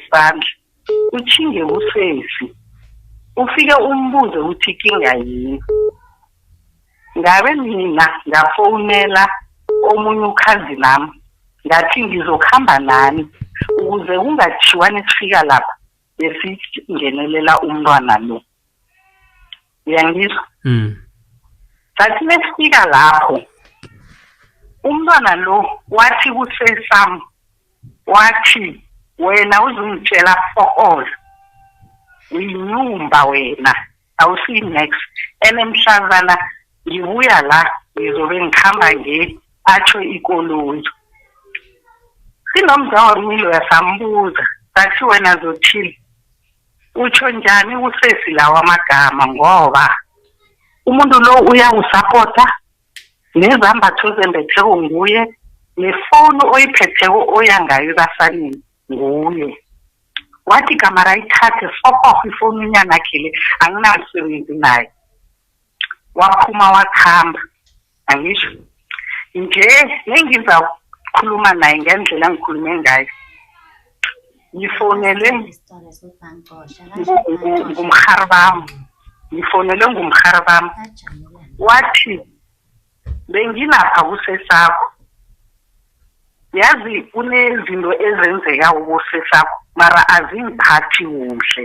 isandla uthinge usesi ufike umbuze ukuthi kinga yini ngabe mina ngafonela omunye ukhazi lami ngathi ngizokuhamba nani ukuze kungathiwani sifika lapha besingenelela umntwana lo uyangizwa mm sathi mesifika lapho umntwana lo wathi kusesam wathi wena uzungitshela for all uyinyumba wena awusiyi next and emhlazana ngibuya la ngizobe ngihamba nge atsho ikoloyi sinomzawami loya sambuza sathi wena zothile utsho njani usesi lawa amagama ngoba umuntu lo uyawusapota nezambatho zembetheko nguye nefoni oyiphetheko oya ngayo ebasaneni nguye wathi igama rayithathe fokoh ifoni unyanakhe le anginamsebenzi naye waphuma wakuhamba angisho nje nengizakhuluma naye ngendlela engikhulume ngayo ngifonelwe ngumhari bami ngifonelwe ngumhari bami wathi bengilapha kusesakho yazi kunezinto ezenzeka ukusesakho mara azingiphathi kuhle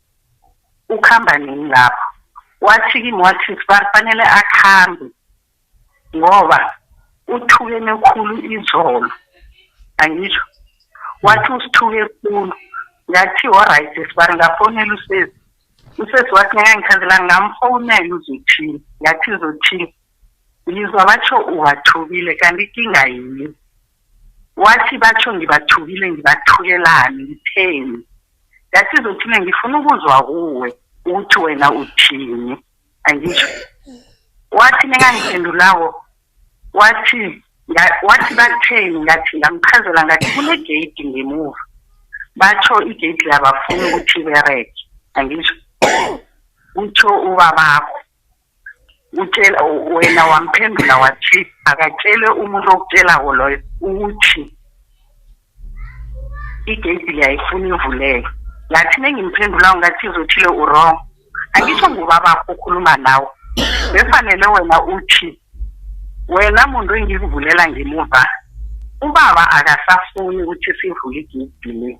ukhamba nini lapho wathi kimi wathi sibari fanele akhambe ngoba uthukene khulu izolo angisho wathi usithuke khulu ngathi oright sibari ngafonela usesi usesi wathi ngangikhandela ngamfonela uzothini ngathi uzothini ngizwa batho uwathukile kanti ikinga yini wathi batsho ngibathukile ngibathukelani ngitheni yathi izothile ngifuna ukuzwa kuwe ukuthi wena uthini angisho wathi ningangiphendulawo wathi wathi batheni ngathi ngamchazela ngathi kunegeyidi ngemuva batsho igeyidi labafuna ukuthi ibereke angisho kutsho ubabakho utshela wena wamphendula wathi akatshele umuntu okutshelawo loyo ukuthi igeyidi liyayifuna ivuleke ngathi nengimphendulayo ngathi izothile urong angisho ngubabakho ukhuluma nawe befanele wena uthi wena muntu engikuvulela ngemuva ubaba akasafuni ukuthi sivule igeyidi le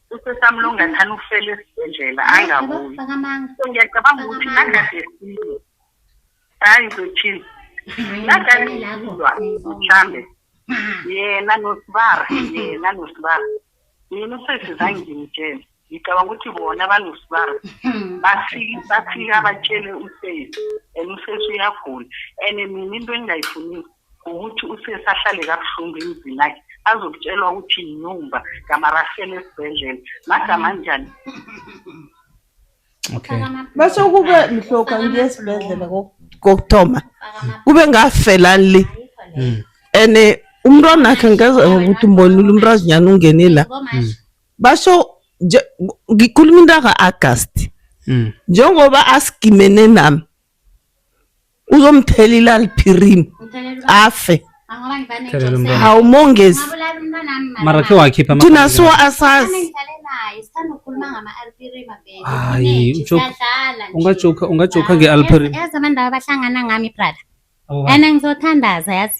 usesamlunga thana ufela esibhedlela angabuyi so ngiyacabanga ukuthi nagadesilwe hayi ngizothini nagadesilwa mhlambe yena nosibara yena nosibara yena usesi zangimtshela ngicabanga ukuthi bona banosibara bafike bafike abatshele usesi and usesi uyagula and mina into engingayifuni ukuthi usesi ahlale kabuhlungu emzini akhe azokutshelwa ukuthi yinyumba kamarafela esibhedlela magama anjani okay base ukube mhloka ngiye esibhedlela kokuthoma kube ngafelani le hmm. and eh, umntwana akhe ngeze ukuthi mbonile umntazinyana ungene la hmm. basho ngikhuluma into aka-agasti hmm. njengoba asigimene nami uzomthela ilalphirim afe hawu mongezi mara khe wakhipha thina so asazi hayi ungajoka ungajoka nge-alphirim yazi abantu laba bahlangana ngami brother and ngizothandaza yazi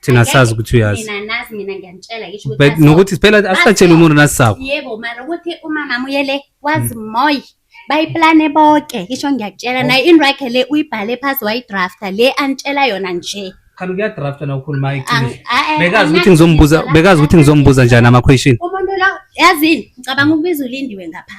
thina sazi ukuthi uyazi mina nazi mina ngiyanitshela yisho ukuthi nokuthi phela asatshela umuntu nasisabo yebo mara ukuthi umama muyele wazi mm. moy bayiplane bonke yisho ngiyakutshela oh. naye inrakhe le uyibhale phasi wayidrafta le anitshela yona nje khani kuyadrafta na ukhuluma iqiniso bekazi ukuthi ngizombuza bekazi ukuthi ngizombuza njani ama question umuntu lo yazini ngicabanga ukubiza ulindiwe ngapha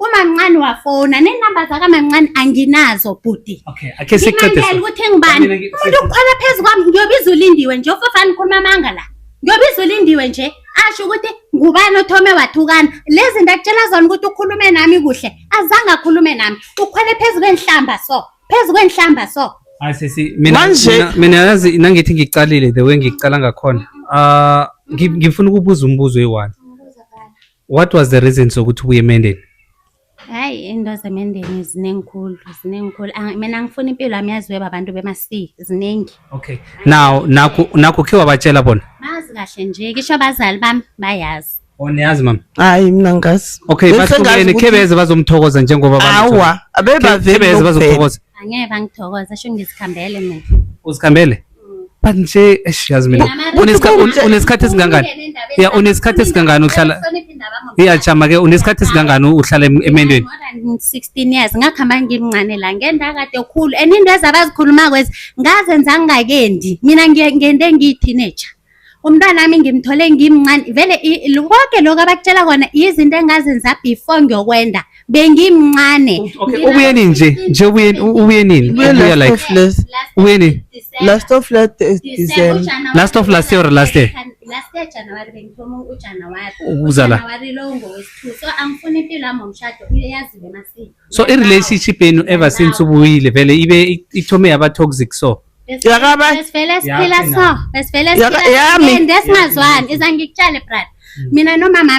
Umamncane wafona nenamba zakamamncane anginazo bhuti. Okay, ake siqede. Ngimangele ukuthi ngibani. Umuntu ukhona phezu kwami ngiyobiza ulindiwe nje ufafana ukhuluma amanga la. Ngiyobiza ulindiwe nje asho ukuthi ngubani othome wathukana. Lezi zinto akutshela zona ukuthi ukhulume nami kuhle. Azange akhulume nami. Ukhona phezu kwenhlamba so. Phezu kwenhlamba so. Hayi sisi mina Manje- mina yazi nangithi ngicalile the way ngicala ngakhona. Ah, ngi- ngifuna ukubuza umbuzo eyi-one. What was the reason sokuthi ubuye emendeni? Hayi into zemendeni zinenkulu zinenkulu ah, mina angifuni impilo yami yaziwe babantu bemasi ziningi. Okay. Now nakho nakho khe wabatshela bona. Bazi kahle nje kisho abazali bami bayazi. Oniyazi oh, mama? Hayi mina ngazi. Okay, bahlukene khebeze bazomthokoza njengoba bami. Hawa, abebavele bazomthokoza. Angeke bangithokoza, sho ngizikhambele mina. Uzikhambele? but nje eish yazi mina unesikhathi esingangani ya unesikhathi esingangani uhlala ya chama ke unesikhathi esingangani uhlala emendweni 16 years ngakhamba ngimncane la ngenda kade ukhulu and into ezabazikhuluma kwezi ngazenza ngingakendi mina ngende ngiyi teenager umntwanami ngimthole ngimncane vele konke lokhu abakutshela kona yizinto engazenza before ngiyokwenda bengimncane ubuyeni nje nje ubuyeni ubuyenini ubuya like ubuyeni last of last december last of last year last year last year January bengithoma uJanuary ukuzala January lo ngowesithu so angifuni impilo yami ngomshado iyaziwe masini so i relationship yenu ever since ubuyile vele ibe ithome yaba toxic so Yakabayi. Besivele siphila so. Besivele Yaka- siphila. yami. And esingazwani. Iza ngikutshele brother. Mina nomama